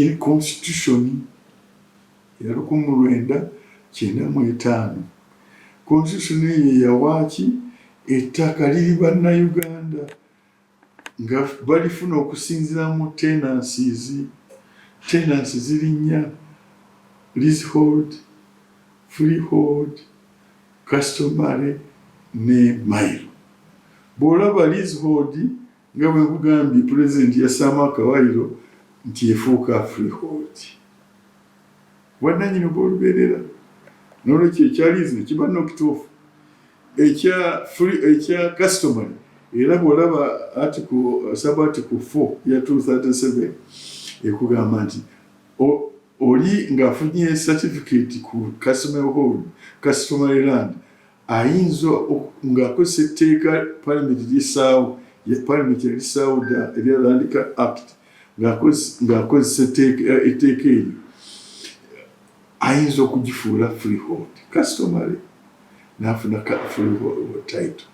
in constitution ya lukumu lwenda kyenda mu etaano constitution eyo yawaaki ettaka liri bannayuganda nga balifuna okusinzira mu tenancies tenansi zirinnya leasehold freehold customary ne mile bw'olaba leasehold Nga bwe nkugambye, Pulezidenti yassaamu akawayiro nti efuuka Freehold bwannanyini obw'olubeerera n'olwekyo ekya liizi ne kiba n'okituufu ekya free ekya customary era bw'olaba article sub article 4 ya 237 ekugamba nti oli ng'afunye certificate ku customary hold customary land ayinza ng'akozesa etteeka palamenti lyesaawo palamenti yalisaawo dda erya Land Act ng'akozesa etteeka eryo ayinza okugifuula freehold customary n'afuna freehold title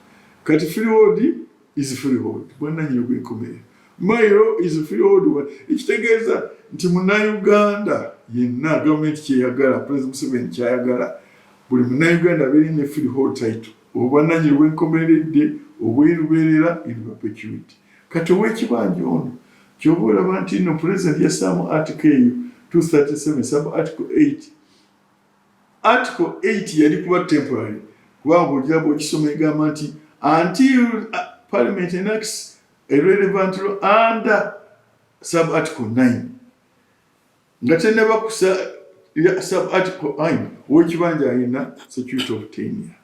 kati freehold is freehold bwananyini gwenkomerero my law is freehold ekitegeeza nti munauganda yenna gavumenti kyeyagala president museveni kyayagala buli munauganda abeere ne freehold title obwananyini bwenkomeredde obweruberera in perpetuity kati owekibanja ono kyoba olaba nti no president yasaamu article eyo 237 sub article 8 Article 8 yali kuba temporary kubanga ojja bw'okisoma egamba nti until uh, parliament enacts a relevant law under sub article 9 nga tennaba kusa sub article 9 ow'ekibanja alina security of tenure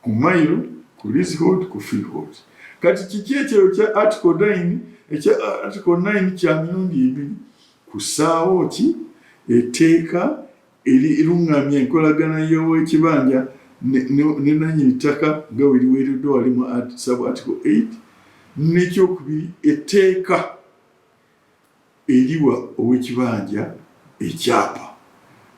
ku mailo ku leasehold ku freehold kati kiki ekyeyo kya article 9 ekya article 9 kya mirundi ebiri kusaawo ki eteeka erirungamya enkolagana y'owekibanja ne nanyini ttaka nga weriweereddwa wali mu sub article 8 nekyokubiri eteeka Eriwa owekibanja ekyapa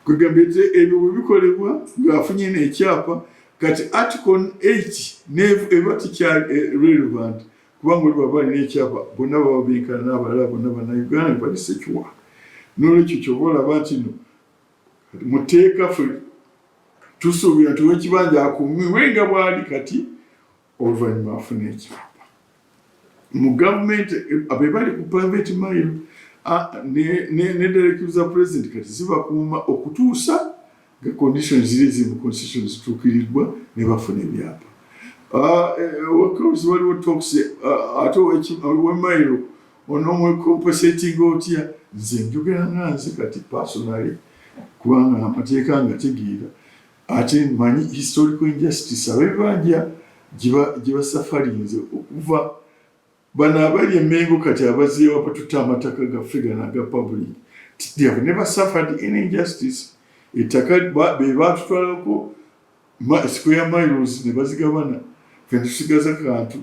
kwegamba ebyo bwebikolebwa ngaafunye nekyapa kati article 8 eba tikyali eh, relevant kubanga oli baba alina ekyapa bonna baba benkana nabalala bonna banauganda bali sekiwa nolwekyo kyoba olaba nti no muteeka fe tusuubira nti wekibanja akumiwe nga bwali kati oluvannyuma afuna ekyapa mu gavumenti be bali ku private mile nedarektive za president kati zibakuuma okutuusa nga condition ziri ezimu constitution zituukiriddwa ne bafuna ebyapa ah, eh, wakawuzi waliwo tox ah, ate wemairo onomwekompesatinga otya nze njogera nga nze kati personally kubanga amateeka nga tegeera ate manyi historical injustice abebanja gyebasafalinze okuva bano abali emengo kati abazeewa batuta amataka gaffe gano aga public have never suffered any injustice ettaka bebatutwalako square miles nebazigabana fetusigaza kantu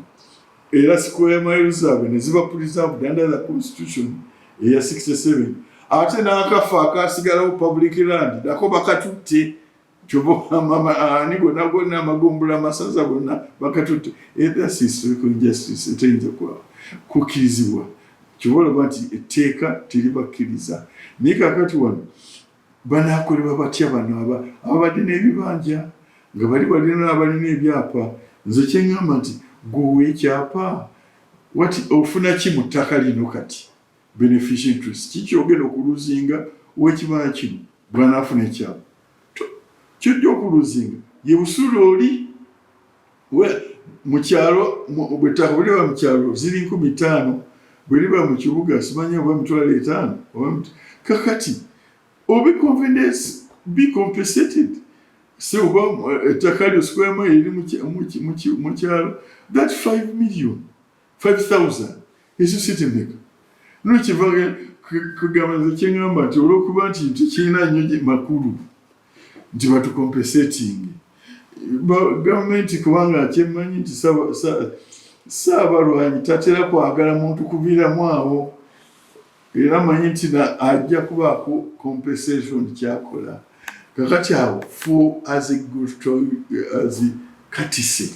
era square mile zaabwe ne ziba preserved under the constitution eya 67 ate n'akafa akasigalawo public land nako bakatutte ani gonna gonna amagombula amasaza gonna bakatutte ethas historical justice eteyinza kukirizibwa kyoba olaba nti etteeka teribakkiriza naye kakati wano Banaakolebwa batya bano ababadde n'ebibanja nga bali balina n'abalina ebyapa? Nze kye ŋŋamba nti gwe owa ekyapa wati ofuna ki mu ttaka lino kati beneficia interest kiki ogenda okuluzinga ow'ekibanja kino bw'anaafuna ekyapa kyojja okuluzinga ye busula oli mu kyalo bwe ttaka bwe liba mu kyalo ziri nkumi ttaano bwe liba mu kibuga simanya oba emitwalo etaano kakati obi confidence be compensated si oba eh, ettaka lyo sikwemu eriri mu kyalo that 5 million 5000 ekyo sitemeka no kiva kugamba nze kyengamba nti olwokuba nti tekirina nnyo makulu nti batukompesetingi gavumenti kubanga kyemanyi nti saabalwanyi tatera kwagala muntu kuviiramu awo era manyi nti ajja kubaako compensation kyakola kakati awo fu azi gutoi azi katise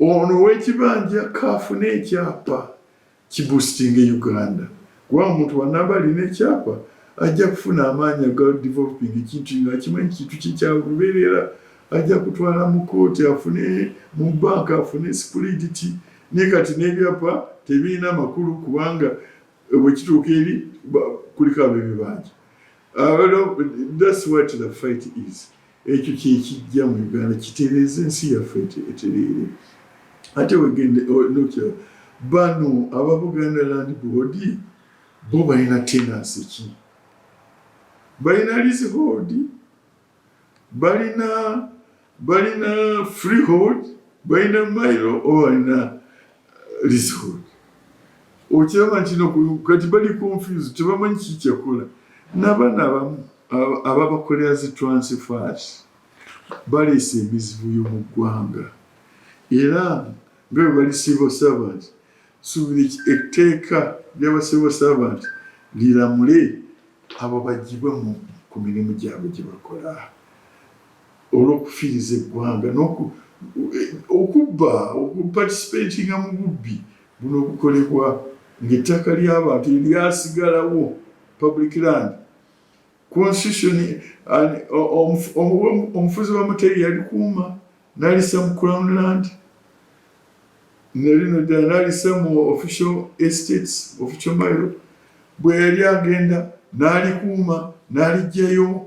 Ono owekibanja kaafune ekyapa kibusitinge Uganda kuba omuntu wanaba alina ekyapa ajja kufuna amaanyi aga developing ekintu kino akimanyi kintu kye kyalubeerera ajja kutwala mu kooti afune mu banka afune sipuliditi naye kati n'ebyapa tebirina makulu kubanga eh, bwekituuka eri kuliko abebibanja that's what the fight is ekyo kyekijja mu uganda kitereeza ensi yaffe etereere ate wegende nokira bano aba buganda land board bo balina tenansi ki balina leasehold balina balina freehold balina mailo oba balina Lizhood okiraba nti no kati bali confused tebamanyi kiki kyekola nabaana abamu ababakolera zi transfers baleese emizibuyo mu ggwanga era nga bwe bali civil servant suubira etteeka lyaba civil servant liramule abo bagibwe ku mirimu gyabwe gye bakola olw'okufiiriza eggwanga n'okubba okupatisipeetinga mu bubbi buno obukolebwa ng'ettaka ly'abantu eryasigalawo public land constitution omufuzi wa muteri yalikuuma nalisa mu crown land nalino ddala nalisa mu official estates official mile bwe yali agenda n'alikuuma n'alijjayo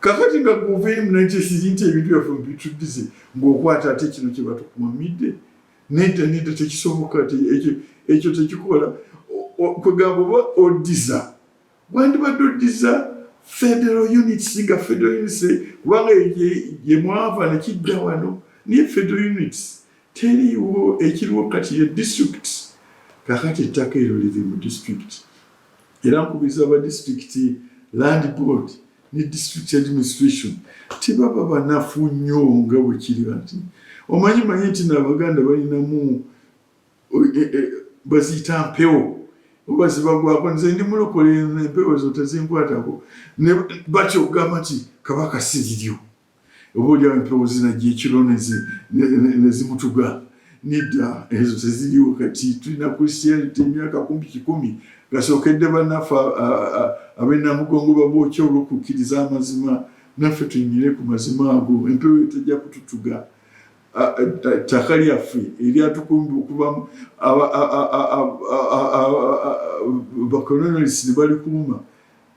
kakati nga guveemu nakyesizi nti ebintu byaffe mubituddize ngaokwata ate kino kyebatukumamidde nedda nedda tekisoboka ekyo tekikola kwegamba oba oddiza wandibadde oddiza federal units nga federal units kubanga yemwava nekidda wano naye federal units teriiwo ekiriwo kati ye district kakati ettaka eryo liri mu district Era nkubiriza aba disitulikiti Land Board ne district administration tibaba banafu nnyo nga bwe kiri nti omanyi manyi nti n'abaganda balinamu e, e, baziyita mpewo oba zibagwako nze ndi mulokole empewo ezo tezinkwatako batya okugamba nti kabaka siriryo oba olyawo empewo zinajja ekiro nezimutuga nedda ezo teziriwo kati tulina christianity emyaka kumpi kikumi gasookedde banaffe abenamugongo babokya olwokukkiriza amazima naffe tunyire ku mazima ago empewo etajja kututuga ttaka lyaffe eryatukumbi okuba bakolonalisi ne balikuuma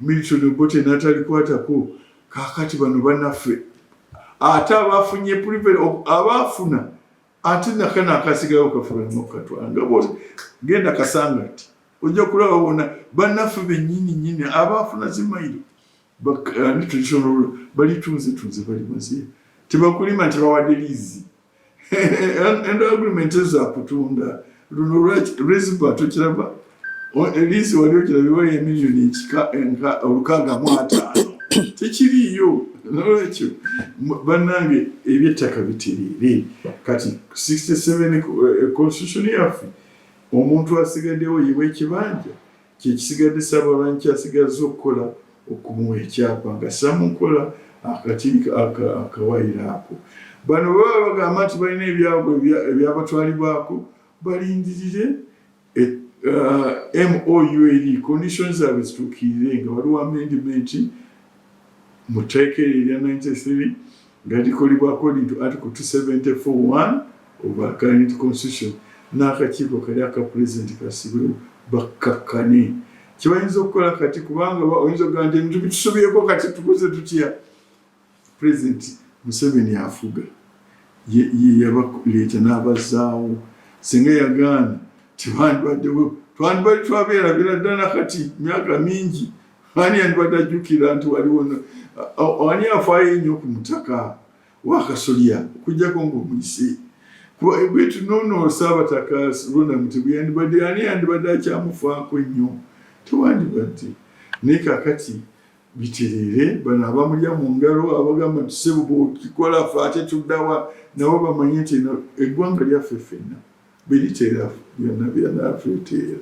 Milton Obote n'atalikwatako kaakati bano banaffe ate abafunye privilege of abafuna ate nakana akasigawo kafuranokatwanga bose genda kasanga ti ojja kulaba bona banaffe benyini nyini abafuna zimairo balitunze tunze bali mazi tebakulima nti bawadde lizi and agreement za kutunda luno lwaki rizipa tukiraba eliisi wali okirabiwa emiliyoni ekika enka olukaaga mu ataano tekiriiyo nolwekyo bannange ebyettaka bitereere kati 67 eh, constitution yaffe omuntu asigaddewo yiwa ekibanja Kyekisigadde Ssaabalawanyi kyasigazza okukola okumuwa ekyapa ng'assa mu nkola akati akawayiro ako. Bano bwe baba bagamba nti balina ebyabwe ebyabatwalibwako balindirire e, uh, MOU eri conditions zaabwe zituukirire nga waliwo amendimenti mu tteeka eryo erya 93 nga likolebwa according to article 2741 of our current constitution n'akakiiko kali aka pulezidenti kasibwewo bakkakkane kyebayinza okukola kati kubanga oyinza okugamba nti ebintu bitusobyeko kati tukoze tutya pulezidenti museveni afuga yeyabakuleeta n'abazaawo singa yagaana tebandibaddewo twandibali twabeerabira ddala kati myaka mingi ani yandibadde ajjukira nti waliwo ani afaayo ennyo ku mutaka wakasolya okujjako ngaomuyise bwetu nono saabataka ronamuti bweyandibadde ani yandibadde akyamufaako ennyo tewandibadde naye kakati biterere bano abamulya mu ngalo abagamba nti sebo bwokikola fe ate tuddawa nabo bamanye nti eggwanga lyaffe fenna beriterera byonna byanafe eteera